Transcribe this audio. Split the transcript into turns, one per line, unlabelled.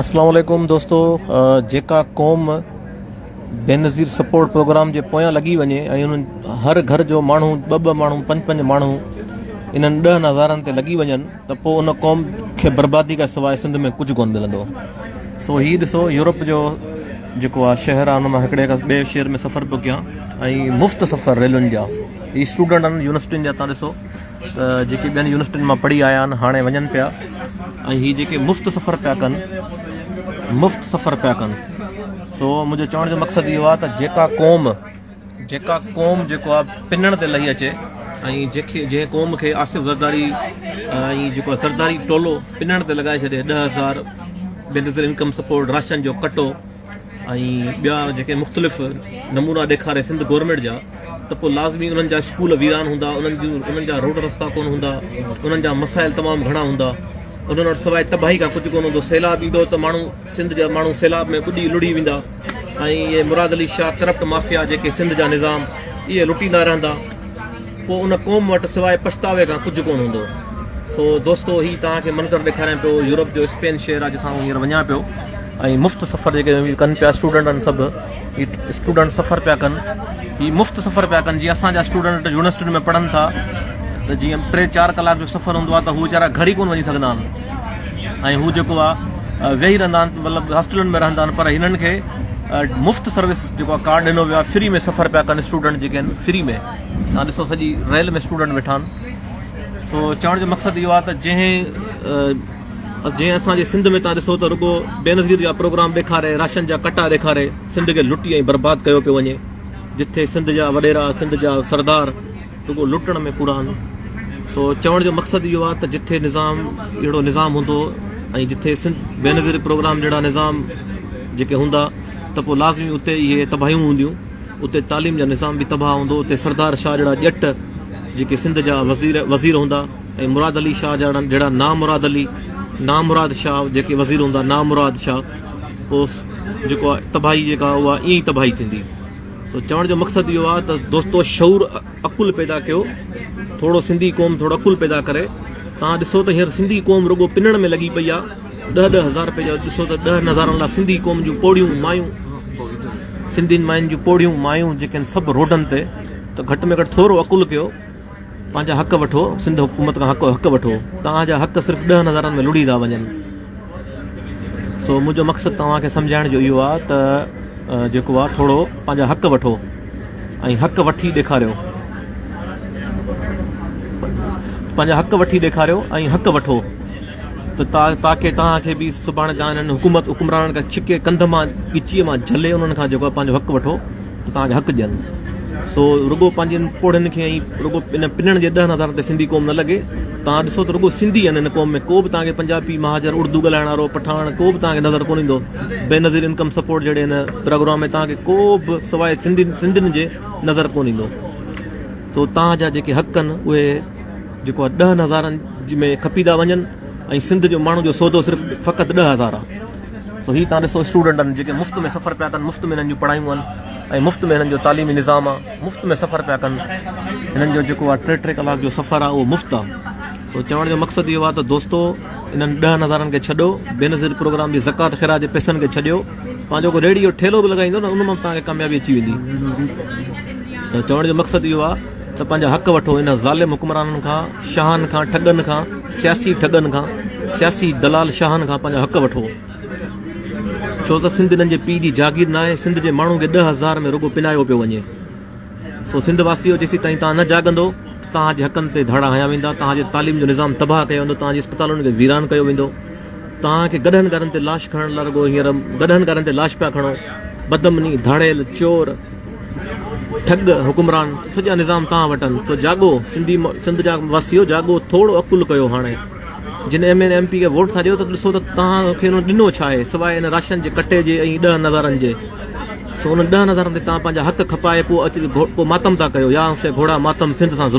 السلام عليڪم دوستو جيڪا قوم بينظير سپورٽ پروگرام جي پويان لڳي وڃي ۽ انهن هر گهر جو ماڻهو ٻه ٻه ماڻهو پنج پنج ماڻهو انهن ڏهن هزارن تي لڳي وڃن ته پوء ان قوم کي بربادي کان سواء سنڌ ۾ ڪجهه ڪونه ملندو سو هي ڏسو يورپ جو جيڪو آهي شهر آهي ان مان هڪڙي کان ٻئي شهر ۾ سفر پيو ڪيان ۽ مفت سفر ريلن جا هي اسٽوڊنٽ آهن يونيورسٽين جا تان ڏسو ته جيڪي ٻين يونيورسٽين مان پڙهي آيا آهن هاڻي وڃن پيا ۽ هي جيڪي مفت سفر پيا ڪن مفت سفر پيا ڪن سو منهنجو چوڻ جو مقصد اهو آهي ته جيڪا قوم جيڪا قوم جيڪو آهي پنڻ تي لهي اچي ۽ جيڪي جنهن قوم کي آصف زرداري ۽ جيڪو زرداري ٽولو پنڻ تي لڳائي ڇڏي ڏهه هزار Benazir income support ration جو ڪٽو ۽ ٻيا جيڪي مختلف نمونا ڏيکاري سنڌ گورنمينٽ جا ته پوء لازمي انهن جا اسڪول ويران هوندا انهن جون انهن جا روڊ رستا ڪون هوندا انهن جا مسائل تمام گهڻا هوندا انهن وٽ سواء تباهي کان ڪجهه ڪون هوندو سيلاب ايندو ته ماڻهو سنڌ جا ماڻهو سيلاب ۾ ٻڏي لڙي ويندا ۽ اهي مراد علي شاهه ڪرپٽ مافيا جيڪي سنڌ جا نظام اهي لٽيندا رهندا پوء ان قوم وٽ سواء پڇتاوي کان ڪجهه ڪونه هوندو. سو دوستو هي توهان کي منظر ڏيکاريان پيو يورپ جو اسپين شهر آهي جتان آئون هينئر وڃان پيو ۽ مفت سفر جيڪي ڪن پيا اسٽوڊنٽ آهن سڀ هي اسٽوڊنٽ سفر پيا ڪن هي مفت سفر پيا ڪن جيئن اسان جا اسٽوڊنٽ يونيورسٽين ۾ پڙهن ٿا ته جيئن ٽي چار ڪلاڪ جو سفر هوندو آهي ته هو ويچارا گهر ئي ڪونه وڃي سگهندا آهن ۽ هو جيڪو آهي ويهي رهندا آهن مطلب هاسٽلن ۾ رهندا آهن پر هنن کي مفت سروس جيڪو ڪارڊ ڏنو ويو آهي فري ۾ سفر پيا ڪن اسٽوڊنٽ جيڪي آهن فري ۾ توهان ڏسو سڄي ريل ۾ اسٽوڊنٽ ويٺا آهن سو چوڻ جو مقصد اهو آهي ته جنهن جنهن اسان جي سنڌ ۾ تان ڏسو ته رڳو بينظير جا پروگرام ڏيکاري راشن جا ڪٽا ڏيکاري سنڌ کي لٽي ۽ برباد ڪيو پيو وڃي جتي سنڌ جا وڏيرا سنڌ جا سردار رڳو لٽڻ ۾ پورا آهن سو چوڻ جو مقصد اهو آهي ته جتي نظام اهڙو نظام هوندو ۽ جتي سنڌ بينظير پروگرام جهڙا نظام جيڪي هوندا ته پوء لازمي اتي اهي تباهيون هونديون اتي تعليم جو نظام به تباهه هوندو، اتي سردار شاهه جهڙا ڄٽ جيڪي سنڌ جا وزير وزير هوندا ۽ مراد علي شاهه جهڙا جهڙا نامراد علي نامراد شاهه جيڪي وزير هوندا نامراد شاهه پوء جيڪو تباهي جيڪا اها ائين ئي تباهي ٿيندي سو چوڻ جو مقصد اهو آهي ته دوستو شعور عقل پيدا ڪيو ٿورو سنڌي قوم ٿورو عقل پيدا ڪري تان ڏسو ته هينئر سنڌي قوم رڳو پنڻ ۾ لڳي پئي آهي ڏهه ڏهه هزار رپئي جو ڏسو ته ڏهن هزارن لاء سنڌي قوم جون پوڙهيون مايون سنڌين ماين جون پوڙهيون مايون جيڪي آهن سڀ روڊن تي ته گهٽ ۾ گهٽ ٿورو عقل ڪيو پنهنجا حق وٺو سنڌ حڪومت کان حق حق وٺو توهان جا حق صرف ڏهن هزارن ۾ لڙي ٿا وڃن سو منهنجو مقصد توهان کي سمجهائڻ جو اهو آهي ته جيڪو آهي ٿورو پنهنجا حق وٺو ۽ حق وٺي ڏيکاريو پنهنجا حق وٺي ڏيکاريو ۽ حق وٺو ته تاڪي توهان کي به سڀاڻي توهان انهن حڪومت حڪمرانن کان ڇڪي ڪنڌ مان ڳچيء مان جهلي انهن کان جيڪو پنهنجو حق وٺو ته توهان کي حق ڏين سو رڳو پنهنجن پوڙهين کي ۽ رڳو انهن پنڻ جي ڏهن هزارن تي سنڌي قوم نه لڳي توهان ڏسو ته رڳو سنڌي آهن ان قوم ۾ ڪو به توهان کي پنجابي مهاجر اڙدو ڳالهائڻ وارو پٺاڻ ڪو به توهان کي نظر ڪونه ايندو بينظير انڪم سپورٽ جهڙي هن پروگرام ۾ توهان کي ڪو به سواء سنڌين جي نظر ڪونه ايندو سو توهان جا جيڪي حق آهن اهي جيڪو ڏهن هزارن ۾ کپي ٿا وڃن ۽ سنڌ جي ماڻهن جو سودو صرف فقط ڏهه هزار آهي سو هي تان ڏسو اسٽوڊنٽن جيڪي مفت ۾ سفر پيا ڪن مفت ۾ هنن جون پڙهايون آهن ۽ مفت ۾ هنن جو تعليمي نظام آهي مفت ۾ سفر پيا ڪن هنن جو جيڪو آهي ٽي ٽي ڪلاڪ جو سفر آهي اهو مفت آهي سو چوڻ جو مقصد اهو آهي ته دوستو انهن ڏهن هزارن کي ڇڏو بي نظير پروگرام جي زکات خيرا جي پيسن کي ڇڏيو پنهنجو کو ريڙي جو ٺيلو به لڳائيندو نه ان مان تان کي ڪاميابي اچي ويندي ته چوڻ جو مقصد اهو آهي ته پنهنجا حق وٺو انهن ظالم حڪمرانن کان شاهن کان ٺڳن کان سياسي ٺڳن کان سياسي دلال شاهن کان پنهنجا حق وٺو ڇو ته سنڌ انهن جي پي جي جاگير ناهي سنڌ جي ماڻهن کي ڏهه هزار ۾ رڳو پنايو پيو وڃي سو سنڌ واسيو جيسي تائين تان نه جاڳندو توهان جي حقن تي ڌاڙا هنيا ويندا توهان جي تعليم جو نظام تباهه ڪيو ويندو توهان جي اسپتالن کي ويران ڪيو ويندو توهان کي گڏهن گهرن تي لاش کڻڻ لاء رڳو هينئر گڏهن گهرن تي لاش پيا کڻو بدمني ڌاڙيل چور ٺڳ حڪمران سڄا نظام تان وٽن تو جاڳو سنڌي سنڌ جا واسيو جاڳو ٿوڙ عقل ڪيو هاڻي جن ايم اين ايم پي کي ووٽ ٿا ڏيو ته ڏسو ته تان کي انهن ڏنو ڇا آهي سواء ان راشن جي ڪٽي جي ۽ ڏهن هزارن جي سو انهن ڏهن هزارن تي تان پنهنجا حق کپائي پو اچ پو ماتم ٿا ڪيو يا سي گهوڙا ماتم سنڌ سان ظلم